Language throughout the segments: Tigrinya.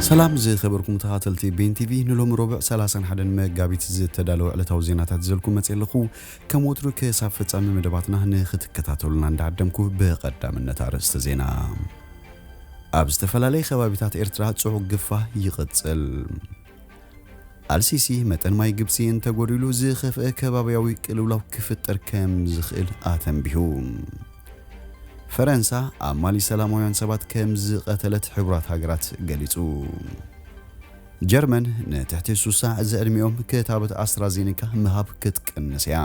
ሰላም ዝኸበርኩም ተኻተልቲ ቤን ቲቪ ንሎሚ ሮብዕ 31 መጋቢት ዝተዳለወ ዕለታዊ ዜናታት ዘልኩም መፅእ ኣለኹ ከም ወትሩ ክሳብ ፍፃሚ መደባትና ንክትከታተሉና እንዳዓደምኩ ብቐዳምነት ኣርእስተ ዜና ኣብ ዝተፈላለየ ከባቢታት ኤርትራ ፅዑቕ ግፋ ይቕፅል ኣልሲሲ፣ መጠን ማይ ግብጺ እንተጎዲሉ ዝኸፍኤ ከባብያዊ ቅልውላው ክፍጠር ከም ዝኽእል ኣተንቢሁ። ፈረንሳ፣ ኣብ ማሊ ሰላማውያን ሰባት ከም ዝቐተለት ሕቡራት ሃገራት ገሊጹ። ጀርመን፣ ንትሕቲ ሱሳ ዝዕድሚኦም ክታበት ኣስትራዜኒካ ምሃብ ክትቅንስ እያ።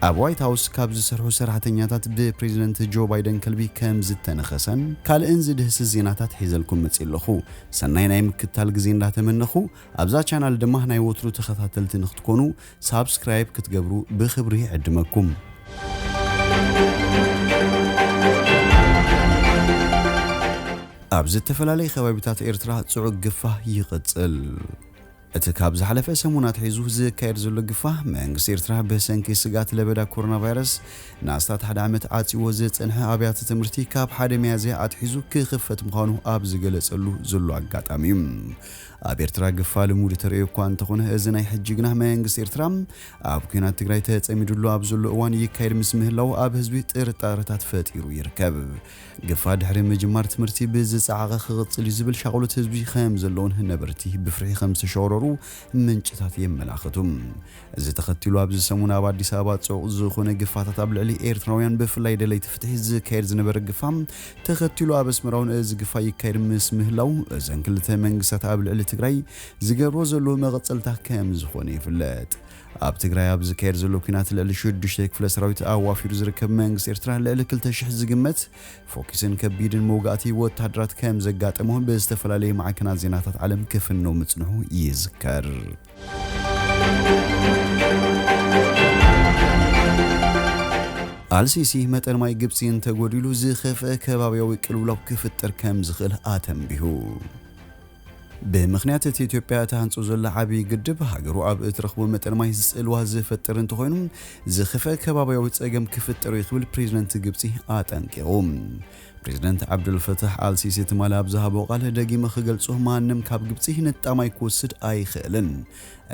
ኣብ ዋይት ሃውስ ካብ ዝሰርሑ ሰራሕተኛታት ብፕሬዚደንት ጆ ባይደን ከልቢ ከምዝተነኸሰን ካልእን ዝድህስስ ዜናታት ሒዘልኩም መፂእ ኣለኹ። ሰናይ ናይ ምክትታል ግዜ እንዳተመነኹ ኣብዛ ቻናል ድማ ናይ ወትሩ ተኸታተልቲ ንክትኮኑ ሳብስክራይብ ክትገብሩ ብኽብሪ ይዕድመኩም። ኣብ ዝተፈላለየ ከባቢታት ኤርትራ ፅዑግ ግፋ ይቕፅል። እቲ ካብ ዝሓለፈ ሰሙን ኣትሒዙ ዝካየድ ዘሎ ግፋ መንግስቲ ኤርትራ ብሰንኪ ስግኣት ለበዳ ኮሮናቫይረስ ንኣስታት ሓደ ዓመት ዓጽይዎ ዝጸንሐ ኣብያተ ትምህርቲ ካብ ሓደ ሚያዝያ ኣትሒዙ ክኽፈት ምዃኑ ኣብ ዝገለጸሉ ዘሎ ኣጋጣሚ'ዩ። ኣብ ኤርትራ ግፋ ልሙድ ተርእዮ እኳ እንተኾነ እዚ ናይ ሕጂ ግና መንግስቲ ኤርትራ ኣብ ኲናት ትግራይ ተጸሚድሉ ኣብ ዘሎ እዋን ይካየድ ምስ ምህላዉ ኣብ ህዝቢ ጥርጣረታት ፈጢሩ ይርከብ። ግፋ ድሕሪ ምጅማር ትምህርቲ ብዝጸዓቐ ክቕጽል'ዩ ዝብል ሻቕሎት ህዝቢ ከም ዘለዎን ነበርቲ ብፍርሒ ከም ዝተሸቕረሩ ምንጭታት የመላኽቱ። እዚ ተኸቲሉ ኣብዚ ሰሙን ኣብ ኣዲስ ኣበባ ጽዑቕ ዝኾነ ግፋታት ኣብ ልዕሊ ኤርትራውያን ብፍላይ ደለይቲ ፍትሒ ዝካየድ ዝነበረ ግፋ ተኸቲሉ ኣብ ኣስመራውን እዚ ግፋ ይካየድ ምስ ምህላው እዘን ክልተ መንግስታት ኣብ ልዕሊ ትግራይ ዝገብርዎ ዘለዉ መቐጸልታ ከም ዝኾነ ይፍለጥ። ኣብ ትግራይ ኣብ ዝካየድ ዘሎ ኲናት ልዕሊ ሽዱሽተ ክፍለ ሰራዊት ኣዋፊሩ ዝርከብ መንግስቲ ኤርትራ ልዕሊ ክልተ ሽሕ ዝግመት ፎኪስን ከቢድን መውጋእቲ ወተሃደራት ከም ዘጋጠሞ ብዝተፈላለየ ማዕከናት ዜናታት ዓለም ክፍነው ምጽንሑ ይዝከር። ኣልሲሲ መጠን ማይ ግብፂ እንተጎዲሉ ዝኸፍአ ከባቢያዊ ቅልውላው ክፍጠር ከም ዝኽእል ኣተንቢሁ። ብምኽንያት እቲ ኢትዮጵያ እትሃንጾ ዘላ ዓብዪ ግድብ፣ ሃገሩ ኣብ እትረኽቦ መጠን ማይ ጽልዋ ዝፈጥር እንተኾይኑ ዝኸፍኣ ከባብያዊ ጸገም ክፍጠር'ዩ ክብል ፕሬዚደንት ግብጺ ኣጠንቂቑ። ፕሬዚደንት ዓብደልፈታሕ ኣልሲሲ ትማሊ ኣብ ዝሃቦ ቃል ደጊመ ክገልጾ ማንም ካብ ግብጺ ንጣብ ማይ ክወስድ ኣይኽእልን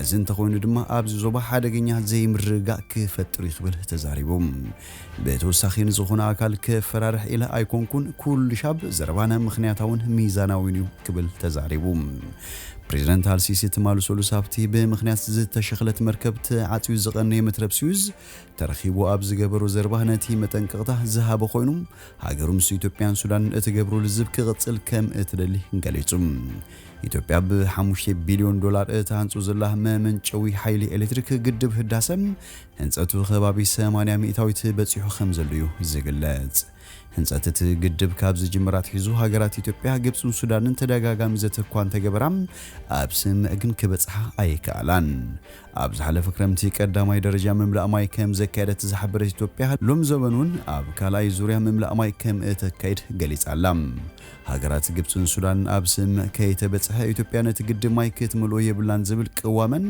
እዚ እንተኾይኑ ድማ ኣብዚ ዞባ ሓደገኛ ዘይምርግጋእ ክፈጥር እዩ ክብል ተዛሪቡ። ብተወሳኺ ንዝኾነ ኣካል ከፈራርሕ ኢለ ኣይኮንኩን፣ ኩሉሻብ ዘረባና ምኽንያታውን ሚዛናዊን እዩ ክብል ተዛሪቡ። ፕሬዝደንት ኣልሲሲ ትማል ሰሉስ ኣብቲ ብምኽንያት ዝተሸኽለት መርከብ ተዓፅዩ ዝቐነየ መትረብ ስዊዝ ተረኺቡ ኣብ ዝገበሮ ዘረባ ነቲ መጠንቀቕታ ዝሃበ ኮይኑ ሃገሩ ምስ ኢትዮጵያን ሱዳንን እትገብሮ ልዝብ ክቕፅል ከም እትደሊ ገሊፁ። ኢትዮጵያ ብ ሓሙሽተ ቢልዮን ዶላር እትሃንጾ ዘላ መመንጨዊ ሓይሊ ኤሌክትሪክ ግድብ ህዳሰ ህንጸቱ ከባቢ ሰማንያ ሚእታዊት በጺሑ ከምዘሎ እዩ ዝግለጽ። ህንጸት እቲ ግድብ ካብ ዝጅምር ኣትሒዙ ሃገራት ኢትዮጵያ፣ ግብጽን ሱዳንን ተደጋጋሚ ዘተ እኳ እንተገበራ ኣብ ስምምዕ ግን ክበጽሓ ኣይከኣላን። ኣብ ዝሓለፈ ክረምቲ ቀዳማይ ደረጃ ምምላእ ማይ ከምዘካየደት ዝሓበረት ኢትዮጵያ፣ ሎምዘበን እውን ኣብ ካልኣይ ዙርያ ምምላእ ማይ ከምእተካይድ ገሊጻ ኣላ። ሃገራት ግብጽን ሱዳንን ኣብ ስምምዕ ከይተበጽሐ ኢትዮጵያ ነቲ ግድብ ማይ ክትምልኦ የብላን ዝብል ቅዋመን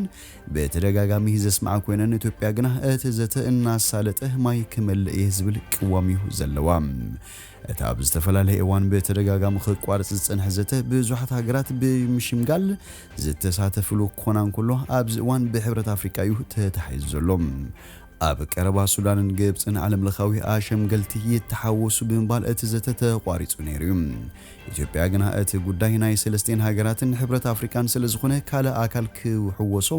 ብተደጋጋሚ ዘስምዓ ኮይነን ኢትዮጵያ ግና እቲ ዘተ እናሳለጠ ማይ ክመልእ እየ ዝብል ቅዋም እዩ ዘለዋ። እቲ ኣብ ዝተፈላለየ እዋን ብተደጋጋሚ ክቋረጽ ዝጸንሐ ዘተ ብዙሓት ሃገራት ብምሽምጋል ዝተሳተፍሉ ክኾና እንከሎ ኣብዚ እዋን ብሕብረት ኣፍሪቃ እዩ ተታሒዙ ዘሎ። ኣብ ቀረባ ሱዳንን ግብጽን ዓለምለኻዊ ኣሸምገልቲ ይተሓወሱ ብምባል እቲ ዘተ ተቋሪጹ ነይሩ እዩ። ኢትዮጵያ ግና እቲ ጉዳይ ናይ ሰለስቲኤን ሃገራትን ሕብረት ኣፍሪቃን ስለዝኾነ ካልእ ኣካል ክሕወሶ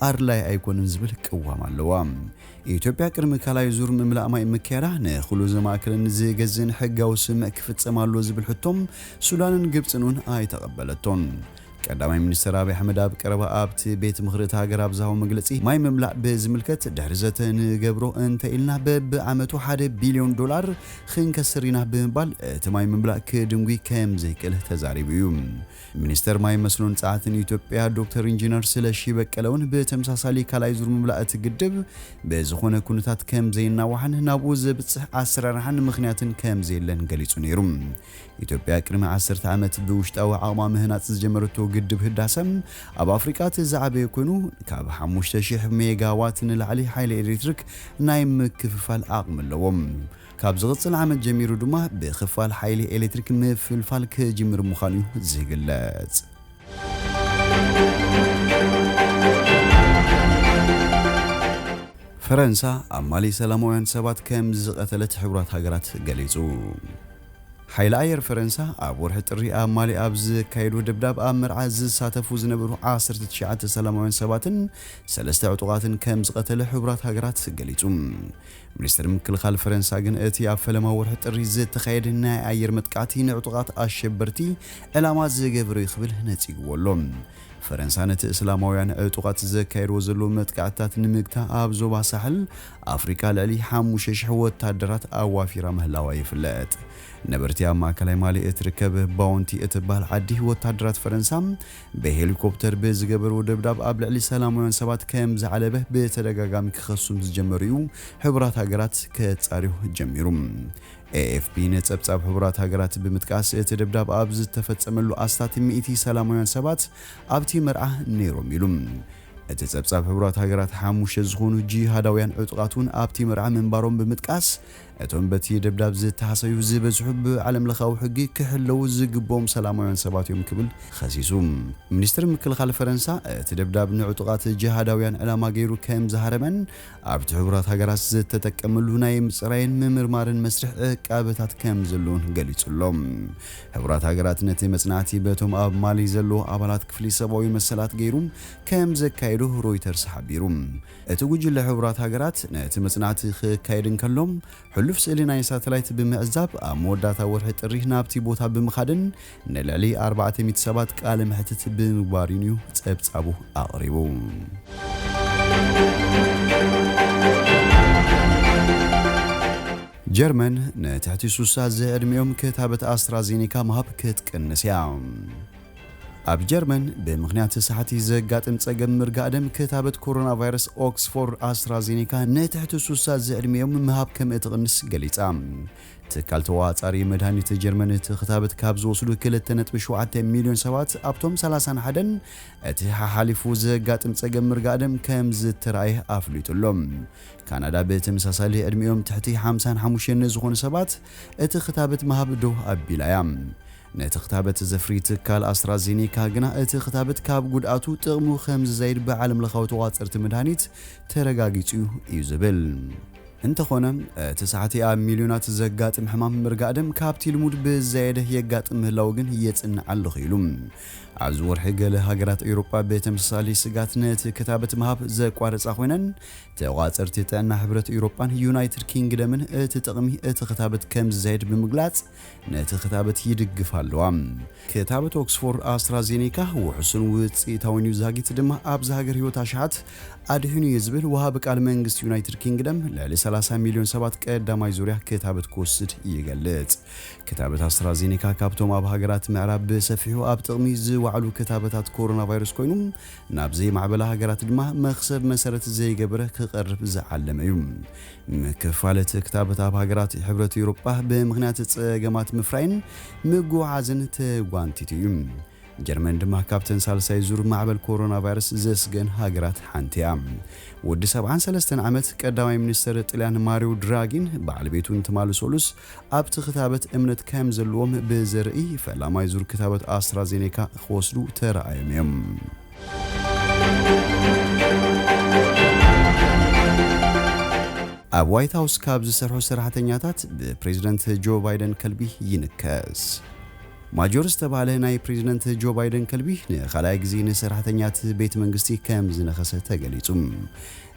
ኣድላይ ኣይኮነን ዝብል ቅዋም ኣለዋ። ኢትዮጵያ ቅድሚ ካልኣይ ዙር ምምላእ ማይ ምክያዳ ንኹሉ ዘማእከለን ዝገዝእን ሕጋዊ ስምምዕ ክፍጸም ኣለዎ ዝብል ሕቶ ሱዳንን ግብጽን እውን ኣይተቐበለቶን። ቀዳማይ ሚኒስተር ኣብይ ኣሕመድ ኣብ ቀረባ ኣብቲ ቤት ምኽሪ እቲ ሃገር ኣብ ዝሃቦ መግለጺ፣ ማይ ምምላእ ብዝምልከት ድሕሪ ዘተ ንገብሮ እንተኢልና በብዓመቱ ሓደ ቢልዮን ዶላር ኽንከስር ኢና ብምባል እቲ ማይ ምምላእ ክድንጒ ከምዘይክእል ተዛሪቡ እዩ። ሚኒስተር ማይ መስኖን ጸዓትን ኢትዮጵያ ዶክተር ኢንጂነር ስለሺ በቀለ'ውን ብተመሳሳሊ ካልኣይ ዙር ምምላእ እቲ ግድብ ብዝኾነ ኩነታት ከምዘይናዋሕን ናብኡ ዘብጽሕ ኣሰራርሓን ምኽንያትን ከምዘየለን ገሊጹ ነይሩ። ኢትዮጵያ ቅድሚ ዓሰርተ ዓመት ብውሽጣዊ ዓቕማ ምህናፅ ዝጀመረቶ ግድብ ህዳሰ ኣብ ኣፍሪቃ እቲ ዝዓበየ ኮይኑ ካብ ሓሙሽተ ሽሕ ሜጋ ዋት ንላዕሊ ሓይሊ ኤሌክትሪክ ናይ ምክፍፋል ዓቕሚ ኣለዎ። ካብ ዝቕፅል ዓመት ጀሚሩ ድማ ብክፋል ሓይሊ ኤሌክትሪክ ምፍልፋል ክጅምር ምዃኑ እዩ ዝግለፅ። ፈረንሳ ኣብ ማሊ ሰላማውያን ሰባት ከምዝቐተለት ሕቡራት ሃገራት ገሊፁ። ሓይሊ ኣየር ፈረንሳ ኣብ ወርሒ ጥሪ ኣብ ማሊ ኣብ ዘካየዶ ደብዳብ ኣብ መርዓ ዝሳተፉ ዝነበሩ ዓሰርተ ትሽዓተ ሰላማውያን ሰባትን ሰለስተ ዕጡቓትን ከም ዝቐተለ ሕቡራት ሃገራት ገሊጹ። ሚኒስተር ምክልኻል ፈረንሳ ግን እቲ ኣብ ፈለማ ወርሒ ጥሪ ዝተኻየደ ናይ ኣየር መጥቃዕቲ ንዕጡቓት ኣሸበርቲ ዕላማ ዝገበረ'ዩ ክብል ነጺግዎ ኣሎ። ፈረንሳ ነቲ እስላማውያን ዕጡቓት ዘካየድዎ ዘለዉ መጥቃዕትታት ንምግታ ኣብ ዞባ ሳሕል ኣፍሪቃ ልዕሊ ሓሙሽተ ሽሕ ወታደራት ኣዋፊራ ምህላዋ ይፍለጥ። ነበርቲ ኣብ ማእከላይ ማሊ እትርከብ ባውንቲ እትበሃል ዓዲ፣ ወታደራት ፈረንሳ ብሄሊኮፕተር ብዝገበርዎ ደብዳብ ኣብ ልዕሊ ሰላማውያን ሰባት ከም ዝዓለበ ብተደጋጋሚ ክኸሱ ምስ ዝጀመሩ'ዩ ሕቡራት ሃገራት ከጻርዮ ጀሚሩ። ኤኤፍፒ ንጸብጻብ ሕቡራት ሃገራት ብምጥቃስ፣ እቲ ደብዳብ ኣብ ዝተፈጸመሉ ኣስታት ሚእቲ ሰላማውያን ሰባት ኣብቲ መርዓ ነይሮም ኢሉ። እቲ ጸብጻብ ሕቡራት ሃገራት ሓሙሽተ ዝኾኑ ጂሃዳውያን ዕጡቓት'ውን ኣብቲ መርዓ ምንባሮም ብምጥቃስ፣ እቶም በቲ ደብዳብ ዝተሃሰዩ ዝበዝሑ ብዓለምለኻዊ ሕጊ ክሕለዉ ዝግብኦም ሰላማውያን ሰባት እዮም ክብል ኸሲሱ። ሚኒስትሪ ምክልኻል ፈረንሳ እቲ ደብዳብ ንዕጡቓት ጂሃዳውያን ዕላማ ገይሩ ከምዝሃረመን ኣብቲ ሕቡራት ሃገራት ዝተጠቀመሉ ናይ ምጽራይን ምምርማርን መስርሕ ዕቃበታት ከም ዘሎን ገሊጹ ኣሎ። ሕቡራት ሃገራት ነቲ መጽናዕቲ በቶም ኣብ ማሊ ዘለዉ ኣባላት ክፍሊ ሰብኣዊ መሰላት ገይሩ ከም ዘካየዶ ሮይተርስ ሓቢሩ። እቲ ጉጅለ ሕቡራት ሃገራት ነቲ መጽናዕቲ ክካየድ እንከሎ፣ ሕሉፍ ስእሊ ናይ ሳተላይት ብምዕዛብ ኣብ መወዳእታ ወርሒ ጥሪ ናብቲ ቦታ ብምኻድን ንልዕሊ ኣርባዕተ ሚእቲ ሰባት ቃለ መሕትት ብምግባር'ውን እዩ ጸብጻቡ ኣቕሪቡ። ጀርመን ንትሕቲ ሱሳ ዝዕድሚኦም ክታበት ኣስትራዜኔካ ምሃብ ክትቅንስ እያ። ኣብ ጀርመን ብምኽንያት ሳሕቲ ዘጋጥም ጸገም ምርጋእ ደም ክታበት ኮሮና ቫይረስ ኦክስፎርድ ኣስትራዜኔካ ንትሕቲ ሱሳ ዝዕድሚኦም ምሃብ ከም እትቕንስ ገሊጻ። ትካል ተቖጻጻሪ መድሃኒት ጀርመን እቲ ክታበት ካብ ዝወስዱ ክልተ ነጥቢ ሸውዓተ ሚልዮን ሰባት ኣብቶም ሰላሳን ሓደን እቲ ሓሓሊፉ ዘጋጥም ጸገም ምርጋእደም ከም ዝተራእየ ኣፍሊጡ ኣሎ። ካናዳ ብተመሳሳሊ ዕድሚኦም ትሕቲ ሓምሳን ሓሙሽተን ንዝኾኑ ሰባት እቲ ክታበት ምሃብ ደው ኣቢላ እያ። ነቲ ክታበት ዘፍሪ ትካል ኣስትራዜኔካ ግና እቲ ክታበት ካብ ጉድኣቱ ጥቕሙ ከም ዝዛይድ ብዓለምለኻዊ ተቖጻጸርቲ መድሃኒት ተረጋጊጹ'ዩ እዩ ዝብል። እንተኾነ፣ እቲ ሳሕቲ ኣብ ሚልዮናት ዘጋጥም ሕማም ምርጋእ ደም ካብቲ ልሙድ ብዝያየደ የጋጥም ምህላዉ ግን የጽንዕ ኣለኹ ኢሉ። ኣብዚ ወርሒ ገለ ሃገራት ኤውሮጳ ብተመሳሳሊ ስግኣት ነቲ ክታበት ምሃብ ዘቋረጻ ኮይነን፣ ተቖጻጸርቲ ጥዕና ሕብረት ኤውሮጳን ዩናይትድ ኪንግደምን እቲ ጥቕሚ እቲ ክታበት ከም ዝዛየድ ብምግላጽ፣ ነቲ ክታበት ይድግፋ ኣለዋ። ክታበት ኦክስፎርድ ኣስትራዜኔካ ውሑስን ውጽኢታውን እዩ፣ ዛጊት ድማ ኣብ ዝሃገር ህይወት ኣሽሓት ኣድሒኑ እየ ዝብል ወሃቢ ቃል መንግስቲ ዩናይትድ ኪንግደም ልዕሊ ሰላሳ ሚልዮን ሰባት ቀዳማይ ዙርያ ክታበት ክወስድ ይገልጽ። ክታበት ኣስትራዜኔካ ካብቶም ኣብ ሃገራት ምዕራብ ብሰፊሑ ኣብ ጥቕሚ ዝወዓሉ ክታበታት ኮሮናቫይረስ ኮይኑ ናብ ዘይማዕበላ ሃገራት ድማ መኽሰብ መሰረት ዘይገበረ ክቐርብ ዝዓለመ እዩ። ምክፋል እቲ ክታበት ኣብ ሃገራት ሕብረት ኤውሮጳ ብምኽንያት ጸገማት ምፍራይን ምጉዕዓዝን ተጓንቲቱ እዩ። ጀርመን ድማ ካብተን ሳልሳይ ዙር ማዕበል ኮሮና ቫይረስ ዘስገን ሃገራት ሓንቲ እያ። ወዲ ሰብዓን ሰለስተን ዓመት ቀዳማይ ሚኒስተር ጥልያን ማሪዮ ድራጊን በዓል ቤቱን ትማሊ ሰሉስ ኣብቲ ክታበት እምነት ከም ዘለዎም ብዘርኢ ፈላማይ ዙር ክታበት ኣስትራዜኔካ ክወስዱ ተራኣዮም እዮም። ኣብ ዋይት ሃውስ ካብ ዝሰርሑ ሰራሕተኛታት ብፕሬዝደንት ጆ ባይደን ከልቢ ይንከስ። ማጆር ዝተባህለ ናይ ፕሬዝደንት ጆ ባይደን ከልቢ ንኻልኣይ ግዜ ንሰራሕተኛት ቤት መንግስቲ ከም ዝነኸሰ ተገሊጹ።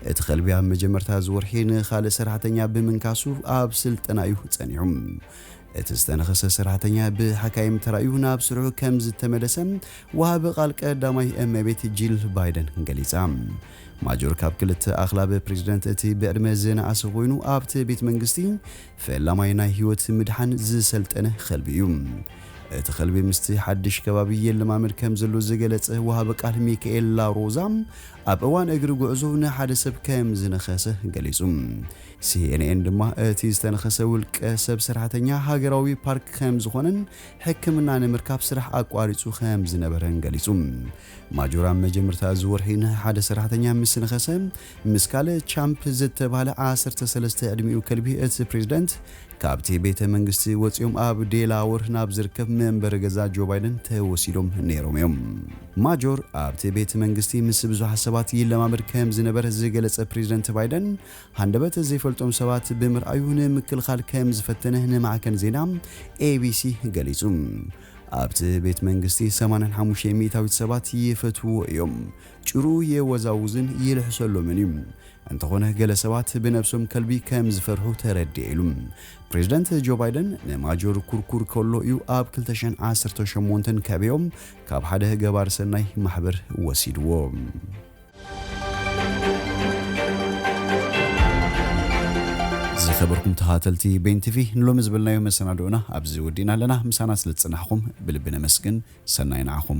እቲ ከልቢ ኣብ መጀመርታ እዚ ወርሒ ንኻልእ ሰራሕተኛ ብምንካሱ ኣብ ስልጠና እዩ ጸኒሑ። እቲ ዝተነኸሰ ሰራሕተኛ ብሓካይም ተራእዩ ናብ ስርሑ ከም ዝተመለሰ ወሃቢ ቃል ቀዳማይ እመቤት ጂል ባይደን ገሊጻ። ማጆር ካብ ክልተ ኣኽላብ ፕሬዝደንት እቲ ብዕድመ ዝነኣሰ ኮይኑ ኣብቲ ቤት መንግስቲ ፈላማይ ናይ ህይወት ምድሓን ዝሰልጠነ ኸልቢ እዩ። እቲ ኸልቢ ምስቲ ሓድሽ ከባቢ የለማመድ ከም ዘሎ ዝገለጸ ወሃቢ ቃል ሚካኤል ላሮዛ ኣብ እዋን እግሪ ጉዕዞ ንሓደ ሰብ ከም ዝነኸሰ ገሊጹ። ሲኤንኤን ድማ እቲ ዝተነኸሰ ውልቀ ሰብ ሰራሕተኛ ሃገራዊ ፓርክ ከም ዝኾነን ሕክምና ንምርካብ ስራሕ ኣቋሪጹ ከም ዝነበረን ገሊጹ። ማጆር ኣብ መጀመርታ እዚ ወርሒ ንሓደ ሰራሕተኛ ምስ ነኸሰ ምስ ካልእ ቻምፕ ዝተባህለ ዓሰርተ ሰለስተ ዕድሚኡ ከልቢ እቲ ፕሬዝደንት ካብቲ ቤተ መንግስቲ ወጺኦም ኣብ ዴላወር ናብ ዝርከብ መንበሪ ገዛ ጆ ባይደን ተወሲዶም ነይሮም እዮም። ማጆር ኣብቲ ቤት መንግስቲ ምስ ብዙሓት ሰባት ይለማመድ ከም ዝነበረ ዝገለጸ ፕሬዝደንት ባይደን፣ ሃንደበት ዘይፈልጦም ሰባት ብምርኣዩ ንምክልኻል ከም ዝፈተነ ንማዕከን ዜና ኤቢሲ ገሊጹ። ኣብቲ ቤት መንግስቲ ሰማንያን ሓሙሽተ ሚእታዊት ሰባት ይፈትውዎ እዮም። ጭርኡ የወዛውዝን ይልሕሰሎምን እዩ። እንተኾነ ገለ ሰባት ብነብሶም ከልቢ ከም ዝፈርሑ ተረድኤ ኢሉ። ፕሬዝደንት ጆ ባይደን ንማጆር ኩርኩር ከሎ እዩ ኣብ ክልተ ሽሕን ዓሰርተው ሸሞንተን ከዕበዮ ካብ ሓደ ገባሪ ሰናይ ማሕበር ወሲድዎ። ዝኸበርኩም ተኸታተልቲ ቤን ቲቪ ንሎሚ ዝበልናዮ መሰናድኦና ኣብዚ ወዲእና ኣለና። ምሳና ስለ ዝጸናሕኩም ብልቢ ነመስግን። ሰናይ ንዓኹም።